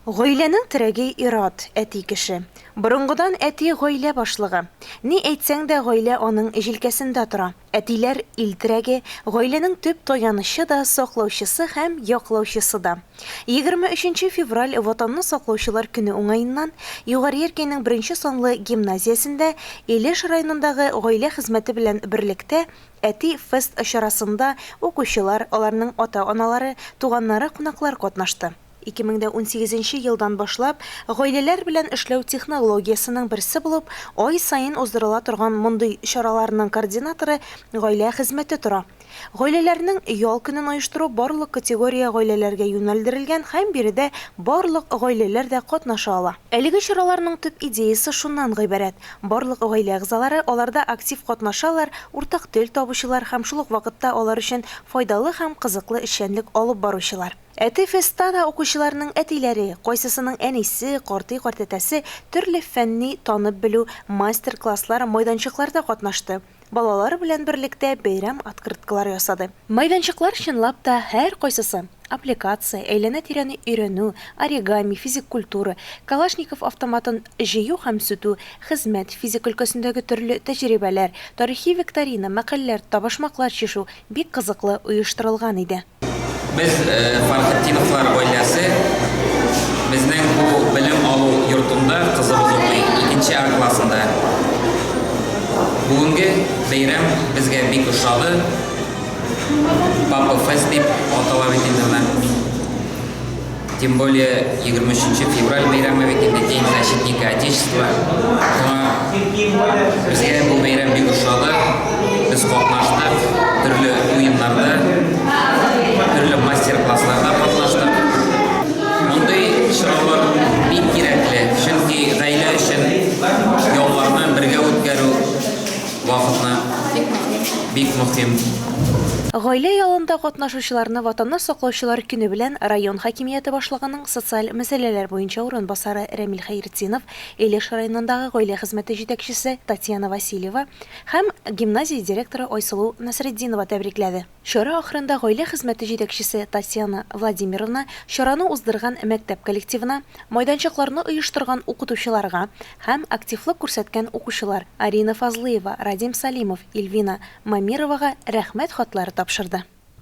Гаиләнең терәге ир-ат, әти кеше. Борынгыдан әти гаилә башлыгы. Ни әйтсәң дә, гаилә аның җилкәсендә тора. Әтиләр, ил терәге, гаиләнең төп таянычы да, саклаучысы һәм яклаучысы да. Егерме өченче февраль Ватанны саклаучылар көне уңаеннан Югары Яркәйнең беренче санлы гимназиясендә Илеш районындагы гаилә хезмәте белән берлектә Әти фест чарасында укучылар, аларның ата-аналары, туганнары, кунаклар катнашты. Ике мең дә унсигез нче елдан башлап гаиләләр белән эшләү технологиясенең берсе булып ай саен уздырыла торган мондый чараларның координаторы гаилә хезмәте тора. Гаиләләрнең ял көнен оештыру барлык категория гаиләләргә юнәлдерелгән һәм биредә барлык гаиләләр дә катнаша ала. Әлеге чараларның төп идеясе шуннан гыйбарәт, барлык гаилә әгъзалары аларда актив катнашалар, уртак тел табучылар һәм шул ук вакытта алар өчен файдалы һәм кызыклы эшчәнлек алып баручылар. Әти фестта да укучыларның әтиләре, кайсысының әнисе, картый-картәтәсе төрле фәнни танып белү мастер-класслар, майданчыкларда катнашты, балалар белән берлектә бәйрәм открыткалары ясады. Майданчыклар чынлап та һәркайсысы, аппликация, әйләнә-тирәне өйрәнү, оригами, физик культура, Калашников автоматын җыю һәм сүтү, хезмәт, физика өлкәсендәге төрле тәҗрибәләр, тарихи викторина, мәкальләр, табашмаклар чишү, бик кызыклы оештырылган иде. Без Фархетдиновлар гаиләсе безнең бу белем алу йортында кызыбыз укый, икенче А классында. Бүгенге бәйрәм безгә бик ошады. Папа фест дип атала бит инде менә. Тем более, егерме өченче февраль бәйрәме бит инде, День защитника Отечества. Шуңа безгә бу бәйрәм бик ошады. Без катнаштык, төрле уеннарда, төрле мастер-классларда катнаштык. Мондый чаралар бик кирәкле, чөнки гаилә өчен ялларны бергә үткәрү, вакытны бик мөһим. Гаилә ялында катнашучы Укучыларны Ватанны саклаучылар көне белән район хакимияте башлыгының социаль мәсьәләләр буенча урынбасары Рәмил Хәйретдинов, Илеш районындагы гаилә хезмәте җитәкчесе Татьяна Васильева һәм гимназия директоры Айсылу Насретдинова тәбрикләде. Чара ахырында гаилә хезмәте җитәкчесе Татьяна Владимировна чараны уздырган мәктәп коллективына, майданчыкларны оештырган укытучыларга һәм активлык күрсәткән укучылар Арина Фазлыева, Радим Салимов, Ильвина Мамировага Рәхмәт хатлары тапшырды.